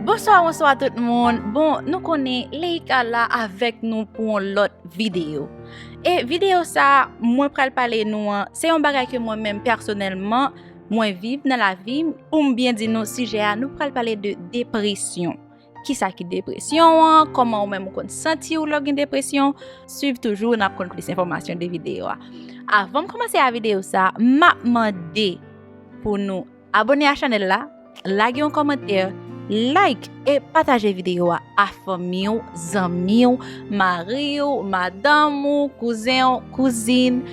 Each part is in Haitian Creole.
Bonswa bonswa tout moun bon nou konnen leika la avèk nou pou yon lòt videyo e videyo sa mwen pral pale nou an se yon bagay ke mwen menm pèsonèlman mwen viv nan lavim poum byen di nou sijè a nou pral pale de depresyon. Kisa ki depresyon an? Koman ou menm ou konn santi ou lè ou gen depresyon? Swiv toujou nap konn plis enfòmasyon de videyo a. Avanm komanse a videyo sa, map mande pou nou abone a chanèl la, lage yon kòmantè, like e pataje videyo a a fanmi ou, zanmi ou, mari ou, madanm ou, kouzen ou, kouzin,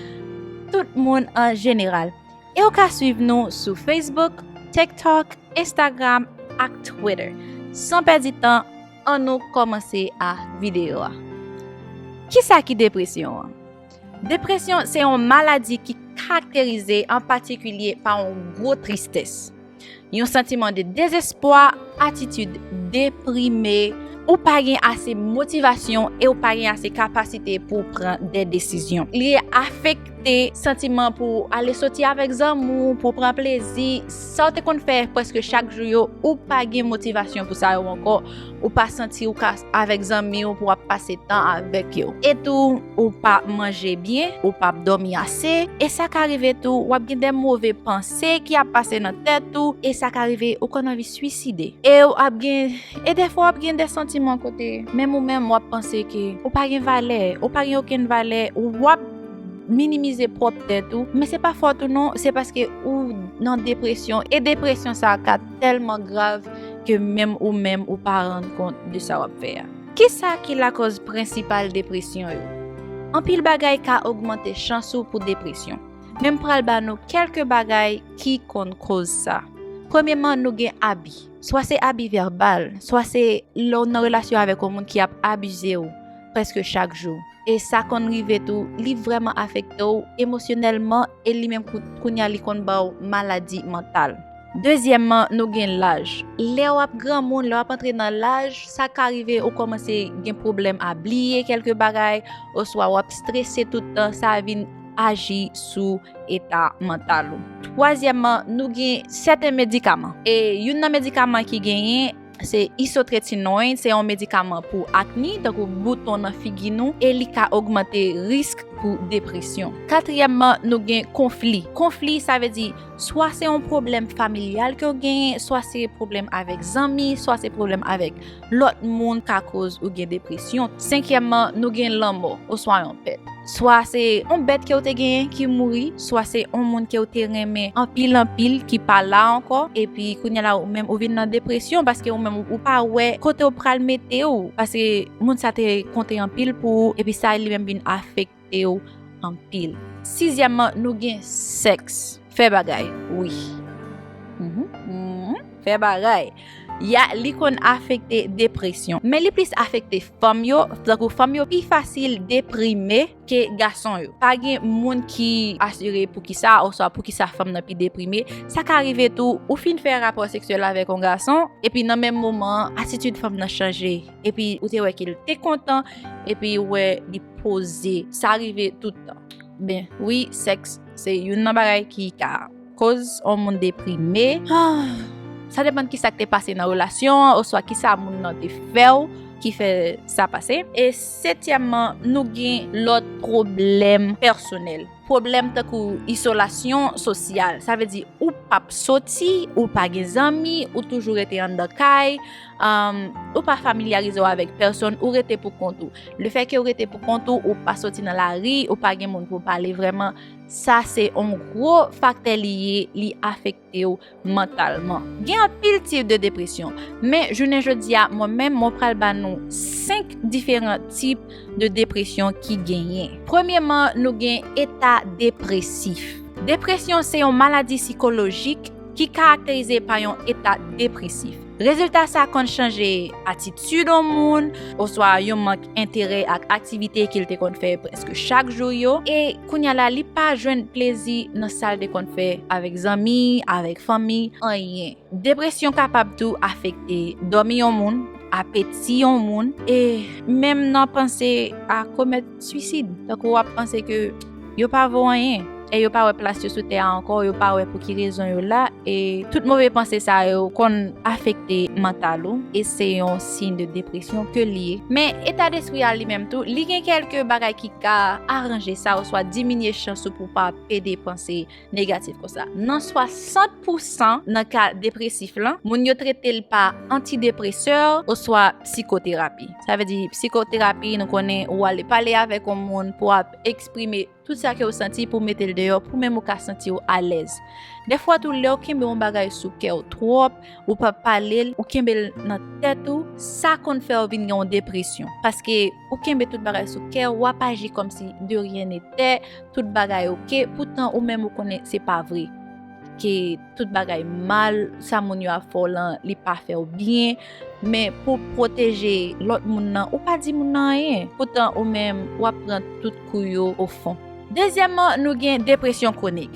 tout moun an jeneral. Ew ka swiv nou sou Facebook, TikTok, Instagram ak Twitter. San pèdi tan, an nou kòmanse a videyo a. Kisa ki depresyon an? Depresyon se yon maladi ki karakterize an patikilye pa yon gwo tristès. Yon santiman de dezespwa, atitid deprime, ou pa gen ase motivasyon e ou pa gen ase kapasite pou pran de desizyon. Li afekte santiman pou ale soti avèk zanmi ou, pou pran plezi, sa ou te konn fè preske chak jou yo, ou pa gen motivasyon pou sa yo ankò, ou pa santi ou ka avèk zanmi ou pou ap pase tan avèk yo. E tou, ou pa manje byen, ou pap dòmi ase, e sa ka rive tou, wap gen de move panse. se ki ap pase nan tèt ou e sa ka rive ou konn anvi swiside ew ap gen e dèfwa wap gen de santiman kote menm ou menm wap panse ke ou pa gen valè ou pa gen okenn valè wap minimize pwòp tèt ou men se pa fòt ou non se paske ou nan depresyon e depresyon sa ka tèlman grav ke menm ou menm ou pa rann kont de sa wap fè a. Kisa ki lakòz prensipal depresyon yo? Anpil bagay ka ogmante chans ou pou depresyon. Men m pral ba nou kèlke bagay ki konn koz sa. Premyeman nou gen abi. Swa se abi vèbal, swa se lè w nan relasyon avèk yon moun ki ap abize w prèske chak jou. E sa konn rive tou, li vrèman afekte w emosyonèlman e li menm kounye a li konn ba w maladi mantal. Dezyèmman nou gen laj. Lè w ap granmoun, lè w ap antre nan laj, sa ka rive ou kòmanse gen pwoblèm a bliye kèlke bagay oswa w ap strese tout tan sa vin. aji sou eta mantal ou. Twazyèmman, nou gen sèten medikaman. E youn nan medikaman ki genyen, se isotretinoin, se yon medikaman pou akni, tankou bouton nan figi nou, e li ka ogmante risk pou depresyon. Katriyèmman, nou gen konfli. Konfli, sa vle di, swa se yon pwoblèm familyal ke w genyen, swa se pwoblèm avèk zanmi, swa se pwoblèm avèk. Lòt moun ka koz ou gen depresyon. Senkyèmman, nou gen lanmò, oswa yon pèt. Swa se yon bèt ke ou te genyen ki mouri, swa se yon moun ke ou te renmen anpil anpil ki pa la ankò, epi kounye la ou menm ou vin nan depresyon paske ou menm ou pa wè kote ou pral mete ou, paske moun sa te konte anpil pou ou, epi sa li menm vin afekte. ew anpil. Sizyèmman nou gen sèks. Fè bagay wi. Fè bagay. Ya li konn afekte depresyon. Men li plis afekte fanm yo, tankou fanm yo pi fasil deprime ke gason yo. Pa gen moun ki asire poukisa oswa poukisa fanm nan pi deprime. Sa ka rive tou ou fin fè rapò seksyèl avèk yon gason epi nan menm moman an atitid fanm nan chanje. epi ou te wè ke l te kontan, epi ou wè li poze. Sa rive tout tan. Ben, wi, sèks se youn nan bagay ki ka koz yon moun deprime. Sa depann kisa k te pase nan relasyon an, oswa kisa moun nan te fè w ki fè sa pase. E setyèmman, nou gen lòt pwoblèm pèsonèl. Pwoblèm tankou isolasyon sosyal. Sa vle di ou pap soti, ou pa gen zanmi, ou toujou rete anndan kay, Ou pa familyarize w avèk pèsonn, ou rete pou kont ou. Le fè ke ou rete pou kont ou, ou pa soti nan la ri, ou pa gen moun pou pale vreman, sa se on gro faktè li ye, li afekte ou mantalman. Gen anpil tip de depresyon, men jounen jodi a, mwen menm mwen pral ba nou 5 diferan tip de depresyon ki genyen. Premyeman, nou gen eta depresif. Depresyon se yon maladi sikolojik ki karakterize pa yon eta depresif. Rezilta sa konn chanje atitid yon moun oswa yon mank enterè ak aktivite ke l te konn fè prèske chak jou yo, e kounya la li pa jwenn plezi nan sa l te konn fè avèk zanmi, avèk fanmi, anyen. Depresyon kapab tou afekte dòmi yon moun, apeti yon moun, e menm nan panse a komèt. Suisid, tankou w ap panse ke yo pa vo anyen, e yo pa wè plas yo sou tè a ankò, yo pa wè pou ki rezon yo la, e tout move panse sa yo konn afekte mantal ou, e se yon siy de depresyon ke li ye. Men, eta despri a li menm tou, li gen kèlke bagay ki ka aranje sa oswa diminye chans ou pou w pa pede panse. negatif konsa. Nan 60 pousan nan ka depresif lan, moun yo trete l pa antidepresè oswa psikoterapi. Sa vle di psikoterapi nou konnen ou ale pale avèk yon moun pou ap eksprime tout sa ke ou santi pou mete l deyò pou menm ou ka santi ou alèz. Defwa tou lè ou kenbe yon bagay sou kè ou twòp, ou pa pale l, ou kenbe l nan tèt ou, sa konn fè ou vin gen yon depresyon. Paske. ou kenbe tout bagay sou kè w, wap aji kòm si de ryen ne tè, tout bagay ok, poutan ou menm ou konnen se pa vre, ke tout bagay mal, sa moun yo ap fè w lan li pa fè w byen, men pou w pwoteje lòt moun nan ou pa di moun nan anyen, poutan ou menm wap pran tout kou yo ofon. Dezyèman nou gen depresyon kwonik,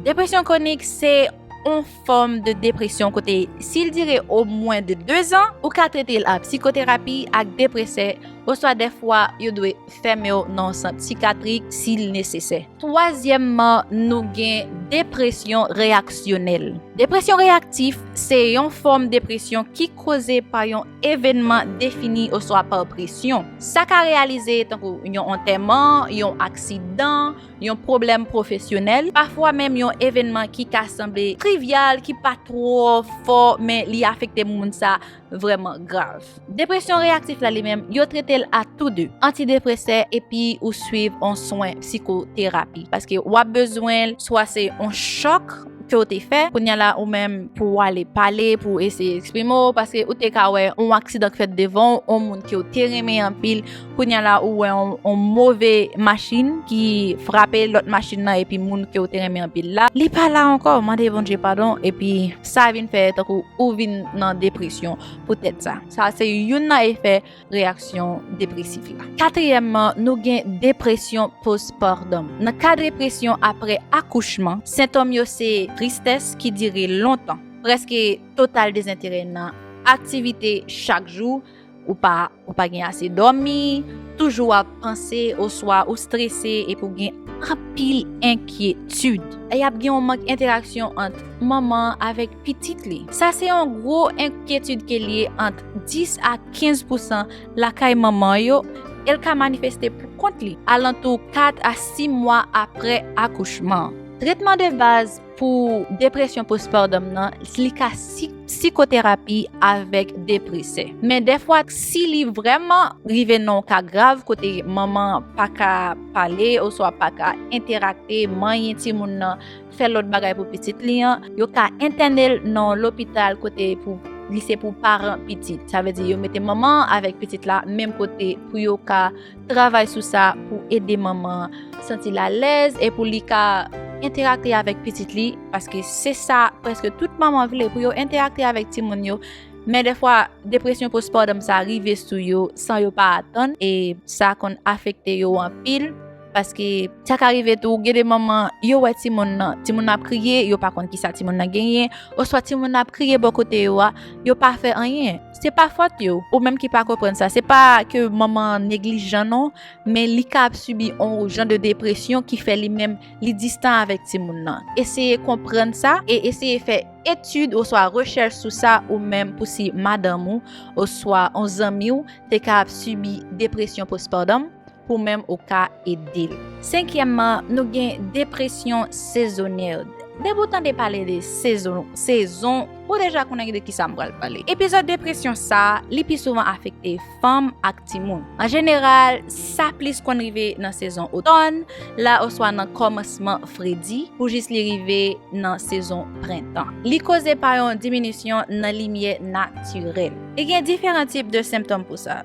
depresyon kwonik se yon. fòm de depresyon kote si l dire o mwen de 2 zan, ou ka trete l a psikoterapi ak depresè oswa dèfwa yo dwe fèmen w nan yon sant sikatrik si l nesesè. Twazyèmman, nou gen depresyon reyaksyonèl. Depresyon reyaktif se yon fòm depresyon ki koze pa yon evènman defini oswa pa presyon. Sa ka reyalize tankou yon antèman, yon aksidan, yon pwoblèm pwofesyonèl, pafwa menm yon evènman ki ka sanble trivyal, ki pa twò fò, men li afekte moun sa vrèman grav. Depresyon reyaktif la li menm, yo trete l a tou de, antidepresè epi ou swiv yon swen psikoterapi, paske w ap bezwen l, swa se yon chòk ke w te fè, kounye a la ou menm pou w ale pale, pou w eseye eksprime w, paske ou te ka wè yon aksidan k fèt devan w, yon moun ke w te renmen anpil. Kounya la ou wè yon move machin ki frape lòt machin nan epi moun ke ou te renmen anpil la li pa la ankò mande Bondye padon epi sa vin fè tankou ou vin nan depresyon poutèt sa. Sa se youn nan efè reyaksyon depresif la. Katriyèmman nou gen depresyon postpartum. Nan ka depresyon aprè akouchman, sentòm yo se tristès ki dire lontan, prèske total dezenterè nan aktivite chak jou, Ou pa ou pa gen ase dòmi, toujou ap panse oswa ou strese epi ou gen anpil enkyetid. E ap gen yon mank enteraksyon ant manman avèk pitit li. Sa se yon gwo enkyetid ke li ye ant 10 a 15 pousan lakay manman yo, e l ka manifeste pou kont li alantou 4 a 6 mwa apre akouchman. Tretman de baz. Pou depresyon postpartum nan, li ka si psikoterapi avèk depresè. Men dèfwa si li vrèman rive nan yon ka grav kote manman an pa ka pale oswa pa ka enterakte, manyen timoun nan, fè lòt bagay pou pitit li an, yo ka entène l nan yon lopital kote pou li se pou paran pitit. Sa vle di yo mete manman an avèk pitit la menm kote pou yo ka. Travay sou sa pou ede manman an santi l alèz e pou li ka enterakte avèk pitit li, paske se sa prèske tout manman vle pou yo enterakte avèk timoun yo, men dèfwa depresyon postpartum sa rive sou yo san yo pa atann e sa konn afekte yo anpil paske sa ka rive tou gen de manman yo wè timoun nan timoun nan ap kriye yo pa konn kisa timoun nan genyen oswa timoun nan ap kriye bò kote yo a yo pa fè anyen. Se pa fòt yo, ou menm ki pa konprann sa, se pa ke manman an neglijan non, men li ka ap sibi on jan de depresyon ki fè li menm li distan avèk timoun nan. Eseye konprann sa e eseye fè etid oswa rechèch sou sa ou menm pou si madanm ou oswa on zanmi w te ka ap sibi depresyon postpartum. pou menm ou ka ede l. Senkyèmman, nou gen depresyon sezonyèd. Depi w tande pale de sezon, sezon, ou deja konnen de ki sa m pral pale. Epizòd depresyon sa, li pi souvan afekte fanm ak timoun. An jeneral, sa plis konn rive nan sezon otòn la oswa nan kòmansman fredi pou jis li rive nan sezon prentan. Li koze pa yon diminisyon nan limyè natirèl. E gen diferan tip de senptòm pou sa.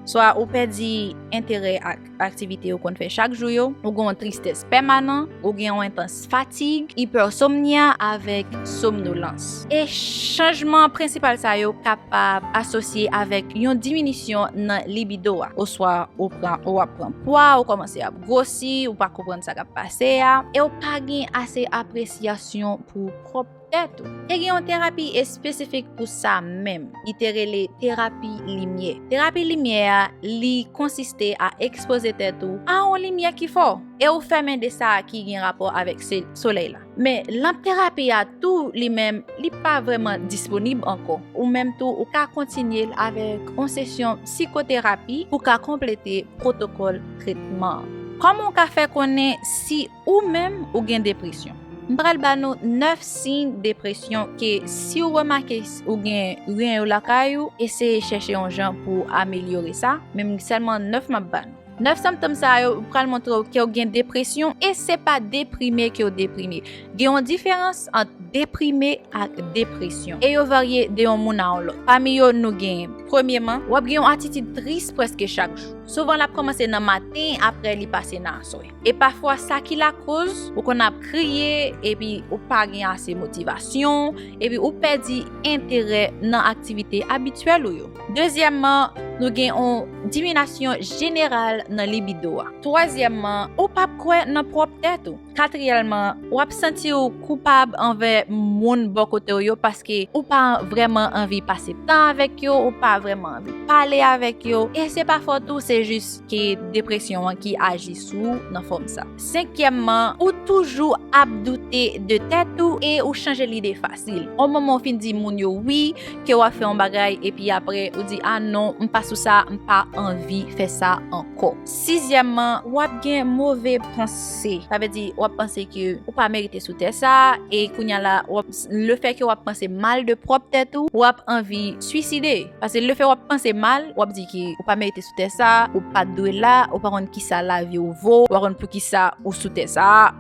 Swa ou pèdi enterè ak aktivite ou konn fè chak jou yo, ou gen yon tristès pèmanan, ou gen yon entans fatig, ipèsomnia avèk somnolans. E chanjman prensipal sa yo kapab asosye avèk yon diminisyon nan libido a. Oswa ou pran ou ap pran pwa, ou kòmanse ap gwosi, ou pa konprann sa k ap pase a, e ou pa gen ase apresyasyon pou pwòp. Tèt ou. Te gen yon terapi espesifik pou sa menm. Li te rele terapi limyè. Terapi limyè a, li konsiste a ekspoze tèt ou a yon limyè ki fò e ou fèmen de sa ki gen rapò avèk solèy la. Men, lanp terapi a tou li menm, li pa vrèman disponib ankò. Ou menm tou, ou ka kontinye l avèk yon sesyon psikoterapi pou ka konplete pwotokòl tretman an. Kòman ou ka fè konnen si. Ou menm ou gen depresyon. M pral ba nou 9 siy depresyon ke si ou remake ou gen ren yo lakay ou eseye chèche yon jan pou ou amelyore sa, men sèlman 9 map ba nou. 9 senptom sa yo pral montre ou ke ou gen depresyon e se pa deprime ke ou deprime. Gen yon diferans ant deprime ak depresyon e yo varye de yon moun a yon lòt. Pami yo nou gen, premyeman, wap gen yon atitid tris prèske chak jou. Souvan lap kòmanse nan maten apre li pase nan aswè. E pafwa sa ki lakoz ou konn ap kriye epi ou pa gen ase motivasyon epi ou pèdi enterè nan aktivite abityèl ou yo. Dezyèmman, nou gen yon diminasyon jeneral nan libido a. Twazyèmman, ou p ap kwè nan pwòp tèt ou. Katriyèlman, w ap santi ou koupab anvè moun bò kote w yo paske ou pa vrèman anvi pase tan avèk yo, ou pa vrèman anvi pale avèk yo e se pa fòt ou se jis ke depresyon an ki aji sou ou nan fòm sa. Senkyèmman, ou toujou ap doute de tèt ou e ou chanje lide fasil. On moman ou fin di moun yo wi, ke w ap fè on bagay epi apre ou di a non, m pa sou sa, m pa anvi fè sa ankò. Sizyèmman, w ap gen move panse. Sa vle di w ap panse ke ou pa merite sou tè sa e kounya la w ap Le fè ke wap panse mal de pwòp tèt ou, wap anvi suiside. Pase le fè wap panse mal, wap di ke ou pa merite sou tè sa, ou pat dwe la, ou pa konn kisa lavi ou vo, ou pa konn poukisa ou sou tè sa,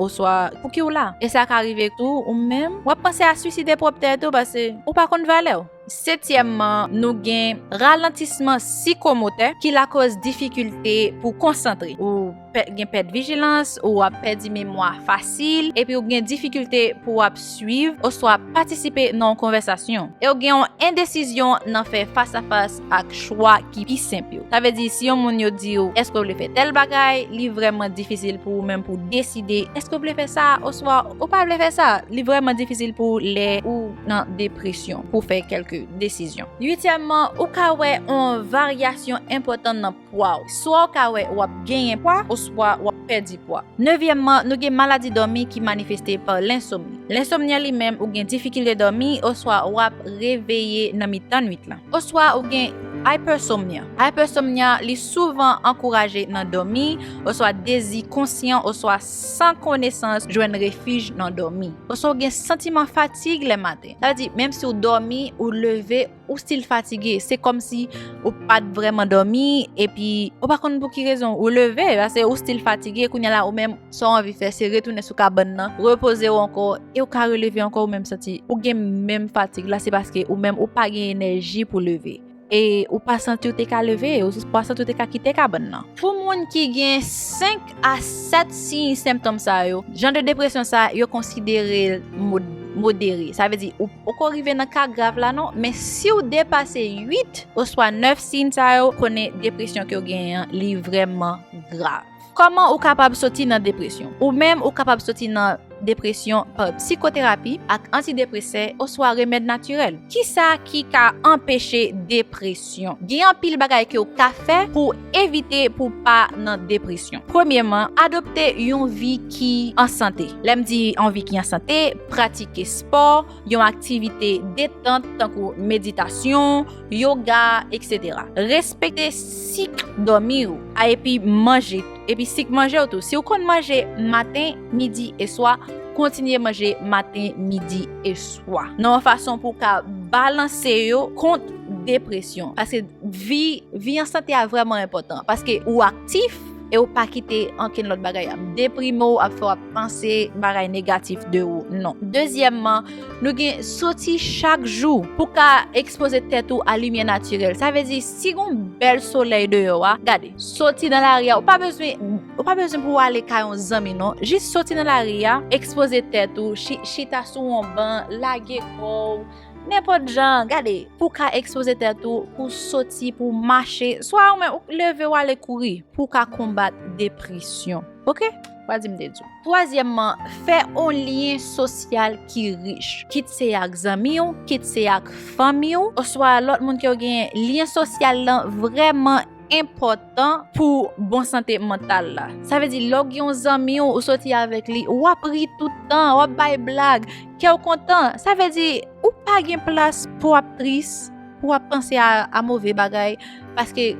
oswa pouki ou la. E sa ka rive tou ou menm, wap panse a suiside pwòp tèt ou pase ou pa konn valèw. Setyèmman, nou gen ralantisman sikomotè ki lakoz difikilte pou konsantre. Ou gen pèt vijilans, ou ap pèdi memwa fasil, epi ou gen difikilte pou w ap suiv oswa patisipe nan yon konvèsasyon. E ou gen yon endesizyon nan fè fasafas ak chwa ki pi senp yo. Sa vle di si yon moun yo di ou èske w vle fè tèl bagay, li vrèman difisil pou ou menm pou w deside èske w vle fè sa oswa ou pa vle fè sa. Li vrèman difisil pou ou lè ou. nan depresyon pou fè kèlke desizyon. Uityèmman, ou ka wè yon varyasyon enpòtan nan pwa ou. Swa ou ka wè w ap genyen pwa oswa w ap pèdi pwa. Nevyèmman, nou gen maladi dòmi ki manifeste pa lensomni. Lensomni an li menm ou gen difikilte dòmi oswa w ap reveye nan mitan nuit lan. Oswa ou gen hypersomnia. Hypersomnia li souvan ankouraje nan dòmi oswa dezi konsyan oswa. San konesans jwenn refij nan dòmi. Oswa ou gen santiman fatig lè maten. Sa vle di, menm si ou dòmi, ou leve, ou stil fatige. Se kòm si ou pa t vrèman dòmi, epi ou pa konn pou ki rezon ou leve, pase ou stil fatige, kounye la ou menm sa w anvi fè se retounen sou kabann nan, repoze w ankò, e ou ka releve ankò ou menm santi ou gen menm fatig la, se paske ou menm ou pa gen enèji pou leve. E ou pa santi ou te ka leve, ou pa santi ou te ka kite kabann nan. Pou moun ki gen 5 a 7 siy senptom sa yo, jan de depresyon sa yo konsidere l modere. Sa vle di ou poko rive nan ka grav la non, men si ou depase 8 oswa 9 siy sa yo, konnen depresyon ke ou genyen an li vreman grav. Kòman ou kapab soti nan depresyon? Ou menm ou kapab soti nan depresyon pa psikoterapi ak antidepresè oswa remèd natirèl. Kisa ki ka anpeche depresyon? Gen anpil bagay ke ou ka fè pou w evite pou w pa nan depresyon. Premyeman, adopte yon vi ki an sante. Lè m di yon vi ki an sante, pratike spò, yon aktivite detant tankou meditasyon, yoga, etc. Respekte sik dòmi ou a epi manje epi sik manje ou tou. Si ou konn manje maten, midi e swa, kontinye manje maten, midi e swa. Nan yon fason pou ka balanse yo kont depresyon. Paske vi an sante a vrèman enpòtan. Paske ou aktif. e ou pa kite ankenn lòt bagay ap deprime ou, ap fè w ap panse bagay negatif de ou, non. Dezyèmman, nou gen soti chak jou pou w ka ekspoze tèt ou a limyè natirèl. Sa vle di, si gen yon bèl solèy deyò a, gade, soti nan lari a, ou pa bezwen, ou pa bezwen pou w ale kay yon zanmi non, jis soti nan lari a, ekspoze tèt ou, chita sou yon ban, lage kò w. Nenpòt jan, gade, pou w ka ekspoze tèt ou, pou w soti, pou w mache, swa ou menm ou k leve w ale kouri, pou w ka konbat depresyon. Oke? Wa di m te di w. Twazyèmman, fè yon lyen sosyal ki rich. Kit se ak zanmi w, kit se ak fanmi w, oswa lòt moun ke w genyen, lyen sosyal lan vrèman enpò. enpòtan pou bon sante mantal la. Sa vle di lè w gen yon zanmi w ou soti avèk li, w ap ri tout tan, w ap bay blag, kè w kontan. Sa vle di ou pa gen plas pou w ap tris, pou w ap panse a move bagay paske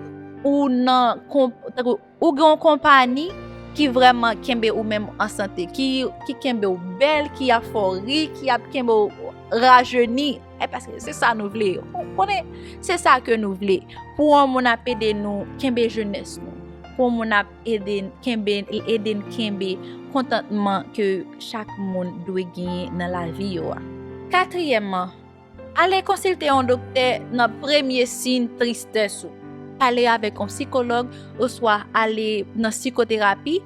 ou nan ou gen yon konpani ki vrèman kenbe ou menm an sante, ki kenbe w bèl, ki ap fè w ri, ki ap kenbe w rajeni. E paske se sa nou vle. Ou konnen, se sa ke nou vle. Pou an moun ap ede nou kenbe jenès nou. Pou an moun ap ede nou kenbe, ede nou kenbe kontantman ke chak moun dwe genyen nan lavi yo a. Katriyèmman, ale konsilte yon doktè nan premye siyn tristès ou. Pale avèk yon sikològ oswa ale nan sikoterapi.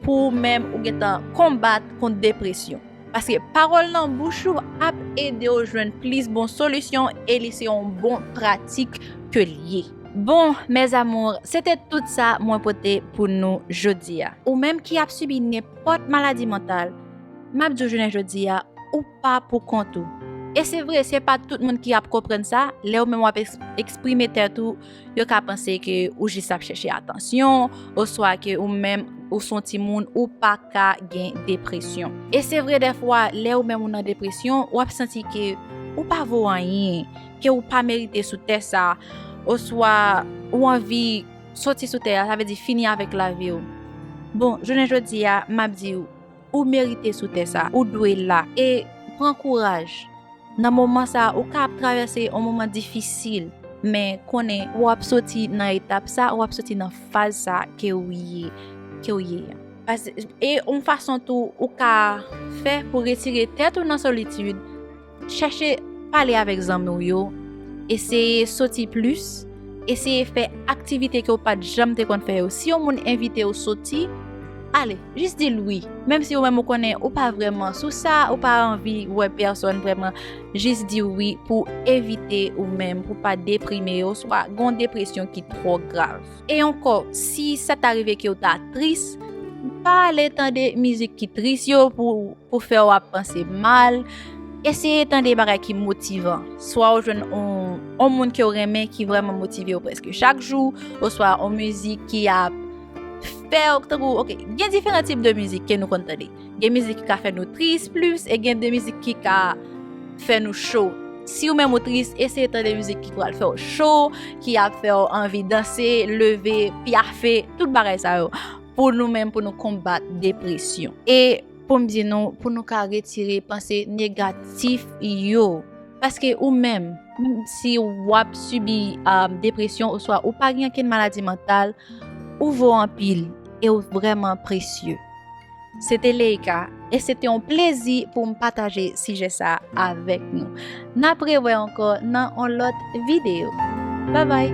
Pou ou menm ou gentan konbat kont depresyon. Paske pawòl nan bouch ou ap ede ou jwenn plis bon solisyon e li se yon bon pratik ke li ye. Bon, mes amours, se te tout sa mwen pote pou nou jodi a. Ou menm ki ap sibi nenpòt maladi mantal, m ap di w jounen jodi a, ou pa pou kont ou. E se vre, se pa tout moun ki ap konprann sa, lè ou menm w ap eksprime tèt ou Yo ka panse ke ou jis ap chèche atansyon, oswa ke ou menm ou s on timoun ou pa ka gen depresyon. E se vre dèfwa lè ou menm ou nan depresyon, w ap santi ke ou pa vo anyen, ke ou pa merite sou tè sa, oswa ou anvi soti sou tè a, sa vle di fini avèk lavi w. Bon, jounen jodi a, m ap di ou. Ou merite sou tè sa. Ou dwe la. E pran kouraj. Nan moman sa ou ka ap travèse yon moman difisil. Men konnen ou ap soti nan etap sa, ou ap soti nan faz sa ke ou ye, ke ou ye an. E yon fason tou ou ka fè pou retire tèt ou nan solitid. Chèche pale avèk zanmi w yo, eseye soti plis, eseye fè aktivite ke w pa t janm te konn fè yo. Si yon moun envite w soti, ale, jis di l wi. Menm si ou menm ou konnen ou pa vrèman sou sa, ou pa anvi wè pèsòn vrèman, jis di wi pou evite ou menm pou pa deprime oswa gen yon depresyon ki twò grav. E ankò, si sa ta rive ke w ta tris, pa ale tande mizik ki tris yo pou fè w ap panse mal. Eseye tande bagay ki motivan. Swa w jwenn yon moun ke w renmen ki vreman motive w preske chak jou, oswa yon mizik ki ap fè w, tankou, ok, gen diferan tip de mizik ke nou konn tande. Gen mizik ki ka fè nou tris plis e gen de mizik ki ka fè nou cho. Si ou menm ou tris, eseye tande mizik ki pral fè ou cho, ki ap fè ou anvi danse, leve, pyafe, tout bagay sa yo. Pou nou menm pou nou konbat depresyon. E pou m di nou, pou nou ka retire panse negatif yo. Paske ou menm, si w ap sibi euh, depresyon oswa ou pa gen ankenn maladi mantal, ou vo anpil e ou vreman presye. Se te Leïka, e se te yon plezi pou m pataje sijè sa avèk nou. N ap rewè ankò nan yon lòt videyo. Babay!